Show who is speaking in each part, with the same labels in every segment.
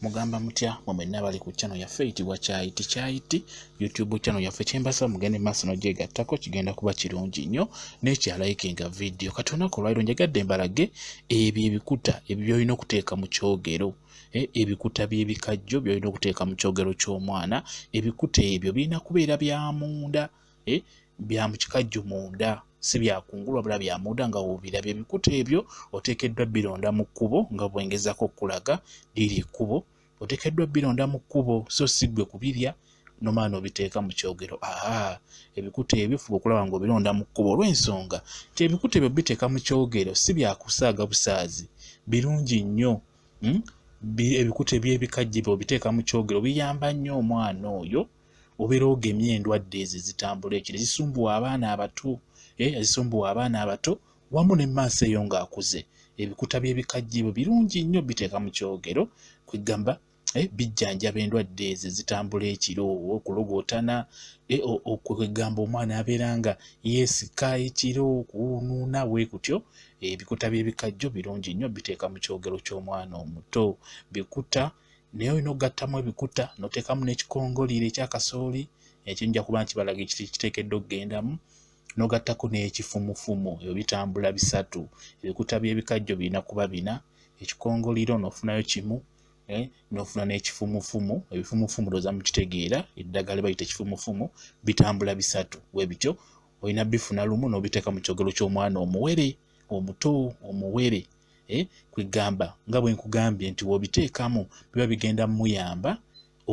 Speaker 1: mugamba mutya mwe mwenna bali ku channel yaffe eyitibwa kyayiti kyayiti youtube channel yaffe kyembasaba mugende maaso nogyegattako kigenda kuba kirungi nnyo nekyalaikinga vidiyo kati olunaku olwaliro njagadde mbalage ebyo ebikuta ebyo byolina okuteeka mu kyogero Eh, ebikuta by'ebikajjo byolina okuteeka mu kyogero ky'omwana ebikuta ebyo birina kubeera bya munda eh, bya mu kikajjo munda si byakungulu wabula bya munda nga wobiraba ebikuta ebyo oteekeddwa bironda mu kkubo nga bwengezako okukulaga liri ekkubo oteekeddwa bironda mu kkubo so si gwe kubirya nomaana obiteeka mu kyogero aha ebikuta ebyo fuba okulaba nga obironda mu kkubo olw'ensonga nti ebikuta ebyo biteeka mu kyogero si byakusaaga busaazi birungi nnyo hmm? ebikuta eby'ebikajje byo obiteeka mu kyogero biyamba nnyo omwana oyo obeera ogemye endwadde ezo ezitambula ekiro ezisumbuwa abaana abato eh, ezisumbuwa abaana abato wamu ne maaso eyo ng'akuze ebikuta by'ebikajje bwe birungi nnyo biteeka mu kyogero kwegamba eh, bijjanjaba endwadde ezo ezitambula ekiro okulogootana eh, okwegamba omwana abeera nga yeesika ekiro okuwunuuna bwe kutyo ebikuta by'ebikajjo birungi nnyo biteeka mu kyogero ky'omwana omuto bikuta naye olina okugattamu ebikuta noteekamu n'ekikongoliiro ekya kasooli ekyo nja kuba nkibalaga ekiteekeddwa okugendamu nogattako n'ekifumufumu ebyo bitambula bisatu ebikuta by'ebikajjo birina kuba bina ekikongoliiro nofunayo kimu eh, nofuna n'ekifumufumu ebifumufumu looza mukitegeera eddagala bayita ekifumufumu bitambula bisatu we bityo olina bifuna lumu n'obiteeka mu kyogero ky'omwana omuwere omuto omuwere eh, kwegamba nga bwe nkugambye nti wobiteekamu biba bigenda muyamba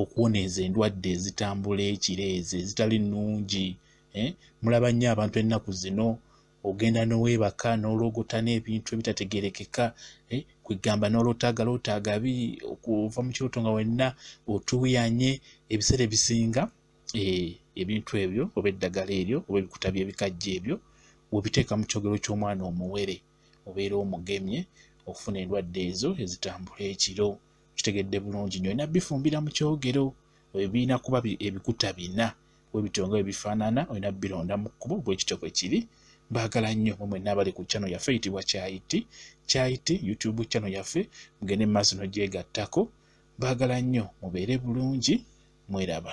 Speaker 1: okuwona ezo endwadde ezitambula ekiro ezo ezitali nnungi eh, mulaba nnyo abantu ennaku zino ogenda noweebaka nologota n'ebintu ebitategerekeka eh, kwegamba nolotaaga lotaaga bi okuva mu kirooto nga wenna otuuyanye ebiseera ebisinga eh, ebintu ebyo oba eddagala eryo oba ebikuta by'ebikajja ebyo wobiteeka mu kyogero ky'omwana omuwere obeera omugemye okufuna endwadde ezo ezitambula ekiro kitegedde bulungi nyo olina bifumbira mu kyogero ebirina kuba ebikuta bina webityo nga webifaanana olina bironda mu kkubo bwekityo bwe kiri mbaagala nnyo mwe mwenna abali ku channel yaffe eyitibwa kyayiti kyayiti youtube channel yaffe mugende mu maaso nogyegattako mbaagala nnyo mubeere bulungi mweraba